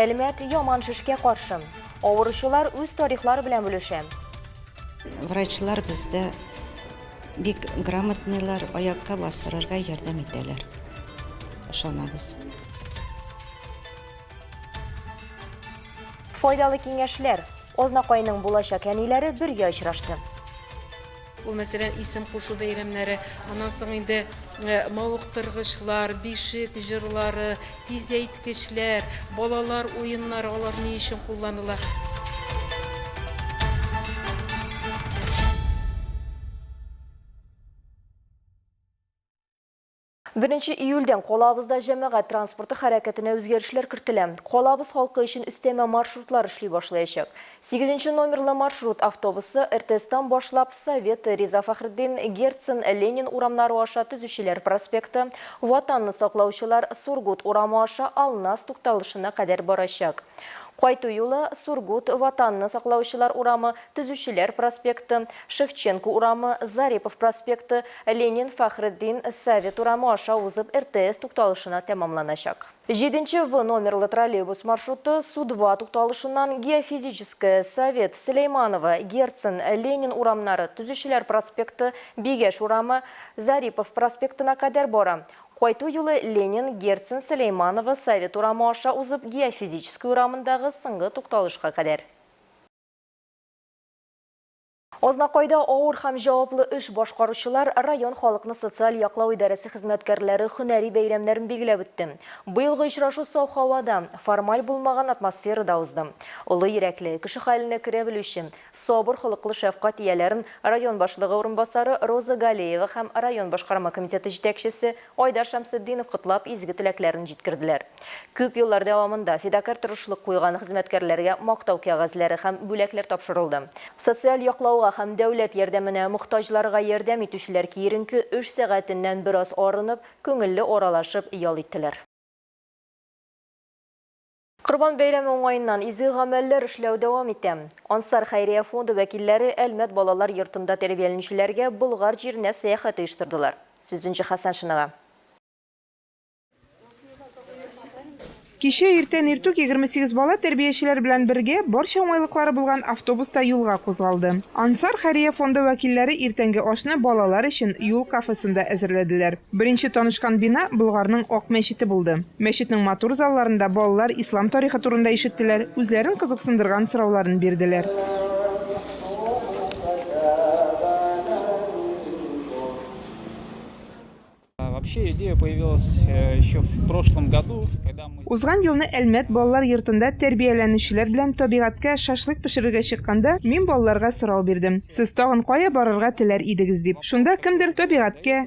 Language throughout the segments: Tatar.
Әлмәт яман шешкә каршы. Авыручылар үз тарихлары белән бүлешә. Врачлар бездә бик грамотныйлар, аякка бастырырга ярдәм итәләр. Ышанабыз. Файдалы киңәшләр. Азнакайның булачак әниләре бергә очрашты. Ул, мәсәлән, исем кушу бәйрәмнәре, аннан соң инде мавыктыргычлар, бишек җырлары, тизәйткечләр, балалар уеннары, алар ни өчен кулланыла. Беренче июльдән калабызда җәмәгать транспорты хәрәкәтенә үзгәрешләр кертелә. Калабыз халкы өчен өстәмә маршрутлар эшли башлаячак. Сигезенче номерлы маршрут автобусы РТСтан башлап Совет, Риза Фәхретдин, Герцен, Ленин урамнары аша Төзүчеләр проспекты, Ватанны саклаучылар, Сургут урамы аша Алнас тукталышына кадәр барачак. Кайту юлы, Сургут, Ватанны саклаучылар урамы, Төзүчеләр проспекты, Шевченко урамы, Зарипов проспекты, Ленин, Фәхретдин, Совет урамы аша узып РТС тукталышына тәмамланачак. Җиденче В номерлы троллейбус маршруты Судва тукталышыннан Геофизическая, Совет, Сөләйманово, Герцен, Ленин урамнары, Төзүчеләр проспекты, Бигәш урамы, Зарипов проспектына кадәр бара. Кайту юлы Ленин, Герцен, Сөләйманово, Совет урамы аша узып Геофизическая урамындагы соңгы тукталышка кадәр. Азнакайда авыр һәм җаваплы эш башкаручылар район халыкны социаль яклау идарәсе хезмәткәрләре һөнәри бәйрәмнәрен билгеләп үтте. Быелгы очрашу саф һавада, формаль булмаган атмосферада узды. Олы йөрәкле, кеше хәленә керә белүче, сабыр холыклы шәфкать ияләрен район башлыгы урынбасары Роза Галеева һәм район башкарма комитеты җитәкчесе Айдар Шәмсетдинов котлап, изге теләкләрен җиткерделәр. Күп еллар дәвамында фидакарь торышлык куйган хезмәткәрләргә мактау кәгазьләре һәм бүләкләр тапшырылды. Социаль яклауга һәм дәүләт ярдәменә мохтаҗларга ярдәм итүчеләр киеренке эш сәгатеннән бераз арынып, күңелле аралашып ял иттеләр. Корбан бәйрәме уңаеннан изге гамәлләр эшләү дәвам итә. Ансар хәйрия фонды вәкилләре Әлмәт балалар йортында тәрбияләнүчеләргә Болгар җиренә сәяхәт оештырдылар. Сүз Энҗе Хәсәншинага. Кичә иртән иртүк егерме сигез бала тәрбиячеләр белән бергә, барча уңайлыклары булган автобуста юлга кузгалды. Ансар хәйрия фонды вәкилләре иртәнге ашны балалар өчен юл кафесында әзерләделәр. Беренче танышкан бина Болгарның Ак мәчете булды. Мәчетнең матур залларында балалар ислам тарихы турында ишеттеләр, үзләрен кызыксындырган сорауларын бирделәр. Узган елны Әлмәт балалар йортында тәрбияләнүчеләр белән табигатькә шашлык пешерергә чыкканда, мин балаларга сорау бирдем, Сез тагын кая барырга теләр идегез? дип. Шунда кемдер табигатькә,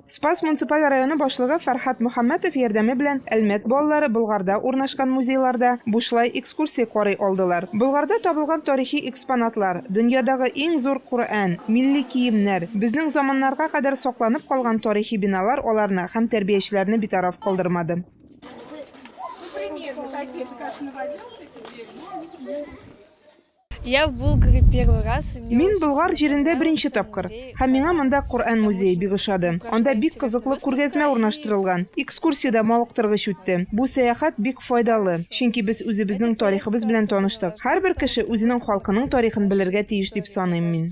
Спас муниципаль районы башлыгы Фәрхәт Мөхәммәтов ярдәме белән Әлмәт балалары Болгарда урнашкан музейларда бушлай экскурсия карый алдылар. Болгарда табылган тарихи экспонатлар, дөньядагы иң зур Коръән, милли киемнәр, безнең заманнарга кадәр сакланып калган тарихи биналар аларны һәм тәрбиячеләрне битараф калдырмады. Мин Болгар җирендә беренче тапкыр, һәм миңа монда Коръән музее бик ошады. Анда бик кызыклы күргәзмә урнаштырылган, экскурсия дә мавыктыргыч үтте. Бу сәяхәт бик файдалы, чөнки без үзебезнең тарихыбыз белән таныштык. Һәрбер кеше үзенең халкының тарихын белергә тиеш дип саныйм мин.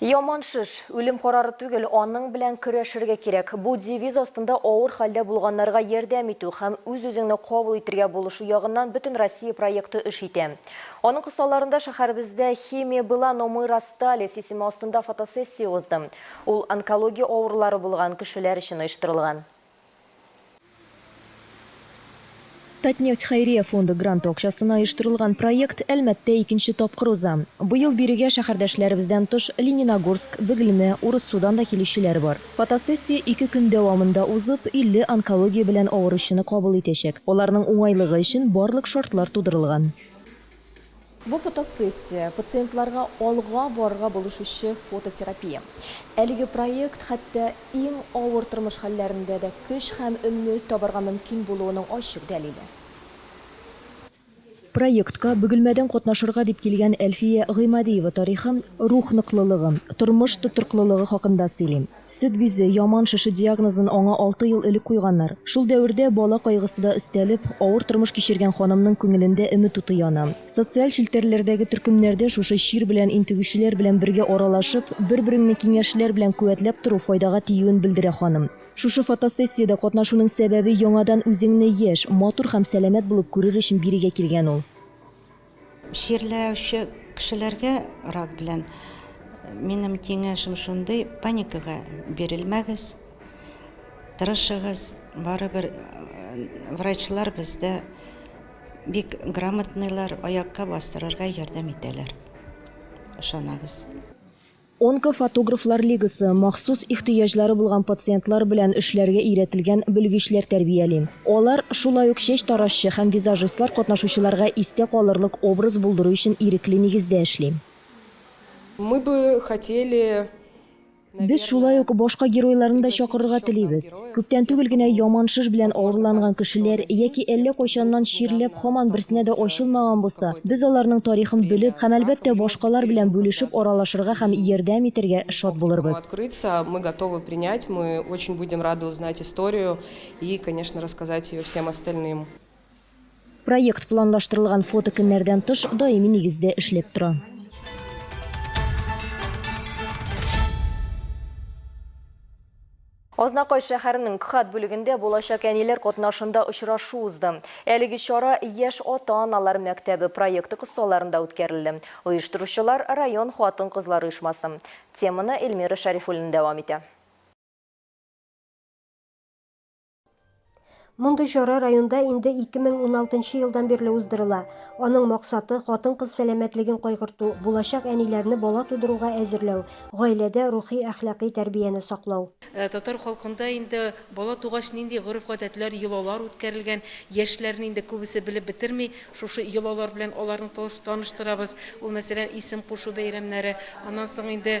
Яман шеш, үлем карары түгел, аның белән көрәшергә кирәк. Бу девиз астында авыр хәлдә булганнарга ярдәм итү һәм үз-үзеңне кабул итергә булышу ягыннан бөтен Россия проекты эш итә. Аның кысаларында шәһәребездә Химия была, но мы расстались исеме астында фотосессия узды. Ул онкология авырулары булган кешеләр өчен оештырылган. Татнефть хәйрия фонды гранты акчасына оештырылган проект Әлмәттә икенче тапкыр уза. Быел бирегә шәһәрдәшләребездән тыш Лениногорск, Бөгелмә, Урыссудан да килүчеләр бар. Фотосессия ике көн дәвамында узып, 50 онкология белән авыручыны кабул итәчәк. Аларның уңайлыгы өчен барлык шартлар тудырылган. Бу фотосессия, пациентларга алга барырга булышучы фототерапия. Әлеге проект хәтта иң авыр тормыш хәлләрендә дә көч һәм өмет табарга мөмкин булуының ачык дәлиле. Проектка Бөгелмәдән катнашырга дип килгән Әлфия Гыймадиева тарихы, рух ныклылыгы, тормыш тотрыклылыгы хакында сөйли. Сөт бизе, яман шеше диагнозын аңа алты ел элек куйганнар. Шул дәвердә, бала кайгысы да өстәлеп, авыр тормыш кичергән ханымның күңелендә өмет уты яна. Социаль челтәрләрдәге төркемнәрдә шушы чир белән интегүчеләр белән бергә аралашып, бер-береңне киңәшләр белән куәтләп тору файдага тиюен белдерә ханым. Шушы фотосессиядә катнашуның сәбәбе яңадан үзеңне яшь, матур һәм сәламәт булып күрер өчен бирегә килгән ул. Чирләүче кешеләргә рак белән минем киңәшем шундый, паникага бирелмәгез, тырышыгыз, барыбер врачлар бездә бик грамотныйлар, аякка бастырырга ярдәм итәләр, ышанагыз. Онкофотографлар лигасы, махсус ихтыяҗлары булган пациентлар белән эшләргә өйрәтелгән белгечләр тәрбияли. Алар, шулай ук чәч таразчы һәм визажистлар катнашучыларга истә калырлык образ булдыру өчен ирекле нигездә эшли. Мы бы хотели, наверное. Без шулай ук башка геройларны да чакырырга телибез. Күптән түгел генә яман шыш белән авырланган кешеләр яки әллә кайчаннан чирләп һаман берсенә дә ачылмаган булса, без аларның тарихын белеп һәм, әлбәттә, башкалар белән бүлешеп аралашырга һәм ярдәм итәргә шат булырбыз. Проект планлаштырылган фотокөннәрдән тыш даими нигездә эшләп тора. Азнакай шәһәренең КХАТ бүлегендә булачак әниләр катнашында очрашу узды. Әлеге чара Яшь ата-аналар мәктәбе проекты кысаларында үткәрелде. Оештыручылар, район хатын-кызлар оешмасы. Теманы Эльмира Шәрифуллина дәвам итә. Мондый чара районда инде 2016 елдан бирле уздырыла. Аның максаты, хатын-кыз сәламәтлеген кайгырту, булачак әниләрне бала тудыруга әзерләү, гаиләдә рухи-әхлакый тәрбияне саклау. Татар халкында инде бала тугач нинди гореф-гадәтләр, йолалар үткәрелгән, яшьләрне инде күбесе белеп бетерми. Шушы йолалар белән аларны таныштырабыз. Ул, мәсәлән, исем кушу бәйрәмнәре. Аннан соң инде.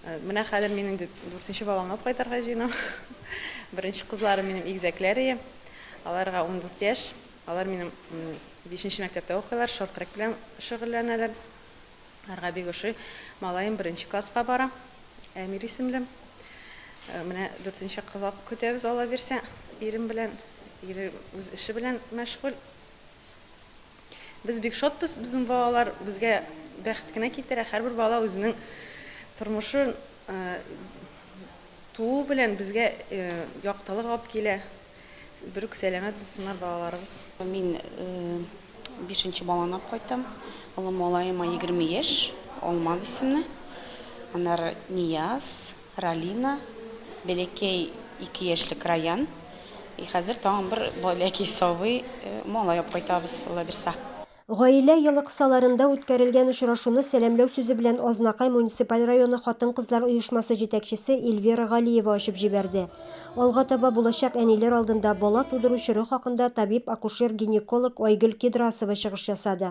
Менә хәзер мин инде дүртенче баламны алып кайтарга җыенам. Беренче кызларым минем игезәкләр ие. Аларга 14 яшь. Алар минем бишенче мәктәптә укыйлар, шорт-трек белән шөгыльләнәләр. Аларга бик ошый. Малаем беренче класска бара, Әмир исемле. Э, менә дүртенче кыз алып көтәбез, Алла бирсә, ирем белән. Ире үз эше белән мәшгуль. Без бик шатбыз, безнең балалар безгә бәхет кенә китерә. Һәрбер бала үзенең тормышын туу белән безгә яктылык алып килә. Бер үк сәламәт булсыннар балаларыбыз. Мин бишенче баланы алып кайттым. Олы малаема егерме яшь, Алмаз исемле. Аннары Нияз. Ралина, бәләкәй ике яшьлек Раян и хәзер тагын бер бәләкәй сабый малай алып кайтабыз, Алла бирса. Гаилә елыксаларында үткәрелгән очрашуны сәламләү сүзе белән Азнакай муниципаль районы хатын-кызлар оешмасы җитәкчесе Эльвира Галиева ачып җибәрде. Алга таба булачак әниләр алдында бала тудыру чоры хакында табиб-акушер-гинеколог Айгөл Кедрасова чыгыш ясады.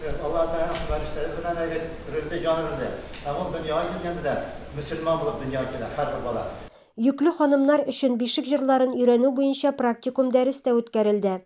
Аллаһы Тәгаләнең фәрештәләре белән әйбәт бирелде, җан бирелде. Һәм ул дөньяга килгәндә дә мөселман булып дөньяга килә һәрбер бала. Йөкле ханымнар өчен бишек җырларын өйрәнү буенча практикум дәрес тә үткәрелде.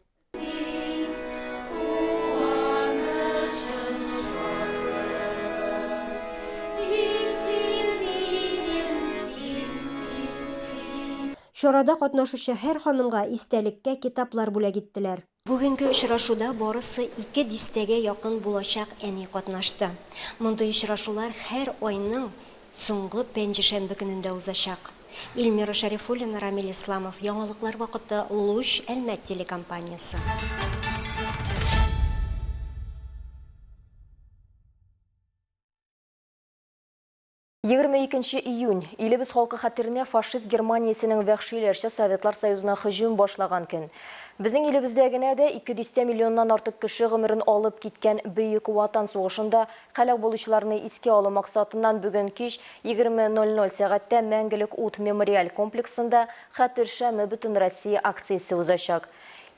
Чарада катнашучы һәр ханымга истәлеккә китаплар бүләк иттеләр. Бүгенге очрашуда барысы ике дистәгә якын булачак әни катнашты. Мондый очрашулар һәр айның соңгы пәнҗешәмбе көнендә узачак. Ильмира Шәрифуллина, Рамил Исламов, яңалыклар вакыты, Луч, Әлмәт телекомпаниясе. 22 нче июнь, илебез халкы хәтеренә фашист Германиясенең вәхшиләрчә Советлар Союзына һөҗүм башлаган көн. Безнең илебездә генә дә ике дистә миллионнан артык кеше гомерен алып киткән Бөек Ватан сугышында һәлак булучыларны искә алу максатыннан бүген кич 20:00 сәгатьтә Мәңгелек ут мемориаль комплексында Хәтер шәме Бөтенроссия акциясе узачак.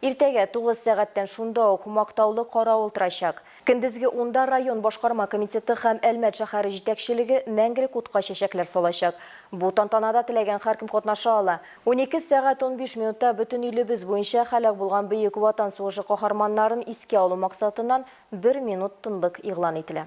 Иртәгә, 9 сәгатьтән шунда ук Мактаулы каравыл торачак. Көндезге унда район башкарма комитеты һәм Әлмәт шәһәре җитәкчелеге мәңгелек утка чәчәкләр салачак. Бу тантанада теләгән һәркем катнаша ала. Унике сәгать унбиш минутта бөтен илебез буенча һәлак булган Бөек Ватан сугышы каһарманнарын искә алу максатыннан бер минут тынлык игълан ителә.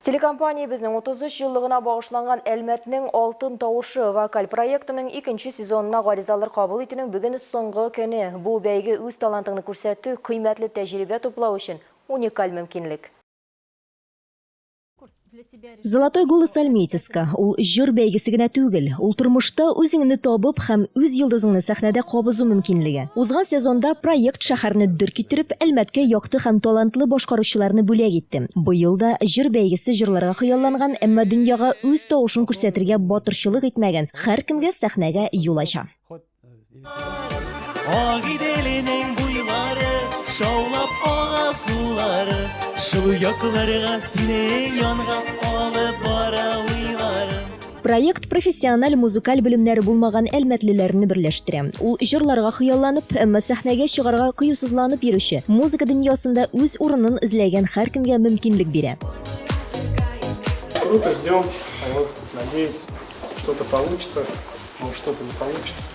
Телекомпаниябезнең 33 еллыгына багышланган Әлмәтнең алтын тавышы вокаль проектының икенче сезонына гаризалар кабул итүнең бүген соңгы көне. Бу бәйге үз талантыңны күрсәтү, кыйммәтле тәҗрибә туплау өчен уникаль мөмкинлек. Золотой голос Альметьевска, ул җыр бәйгесе генә түгел, ул тормышта үзеңне табып һәм үз йолдызыңны сәхнәдә кабызу мөмкинлеге. Узган сезонда проект шәһәрне дер китереп, Әлмәткә якты һәм талантлы башкаручыларны бүләк итте. Быел да җыр бәйгесе җырларга хыялланган, әмма дөньяга үз тавышын күрсәтергә батырчылык итмәгән һәркемгә сәхнәгә юл ача. Агиделенең буйлары, шаулап ага сулары, шул якларга синең янга алып бара уйларым. Проект профессиональ музыкаль белемнәре булмаган әлмәтлеләрне берләштерә. Ул җырларга хыялланып, әмма сәхнәгә чыгарга кыюсызланып йөрүче, музыка дөньясында үз урынын эзләгән һәркемгә мөмкинлек бирә. Круто, ждем. Вот, надеюсь, что-то получится. Может, что-то не получится.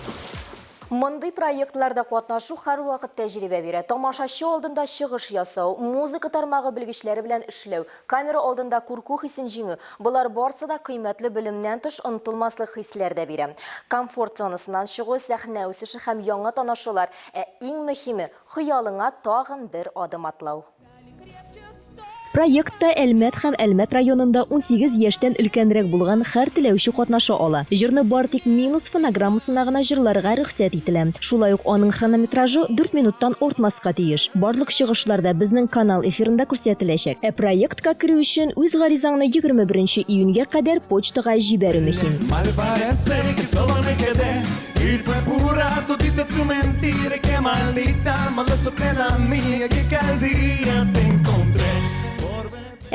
Мондый проектларда катнашу һәрвакыт тәҗрибә бирә. Тамашачы алдында чыгыш ясау, музыка тармагы белгечләре белән эшләү, Камера алдында курку хисен җиңү, болар барсы да кыйммәтле белемнән тыш онытылмаслык хисләр дә бирә. Комфорт зонасыннан чыгу, сәхнә үсеше һәм яңа танышулар, ә иң мөһиме, хыялыңа тагын бер адым атлау. Проектта Әлмәт һәм Әлмәт районында унсигез яшьтән өлкәнрәк булган хәр теләүче катнаша ала. Җырны бар тик минус фонограммасына гына җырларга рөхсәт ителә. Шулай ук аның хронометражы дүрт минуттан артмаска тиеш. Барлык чыгышлар да безнең канал эфирында күрсәтеләчәк. Ә проектка керү өчен үз гаризаңны егерме беренче июньгә кадәр почтага җибәрү мөһим.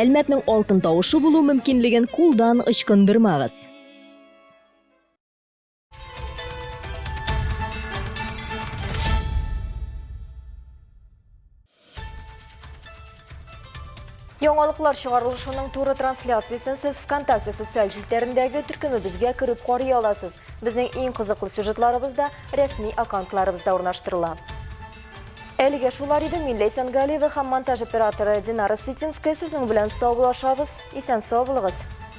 Әлмәтнең алтын тавышы булу мөмкинлеген кулдан ычкындырмагыз! Яңалыклар чыгарылышының туры трансляциясен сез ВКонтакте социаль җилтәрендәге төркемебезгә кереп карый аласыз. Безнең иң кызыклы сюжетларыбыз да рәсми аккаунтларыбызда урнаштырыла. Әлегә шулар иде Милли Сәнгалиева һәм монтаж операторы Динара Ситинская сезнең белән саубулашабыз. Исән сау булыгыз.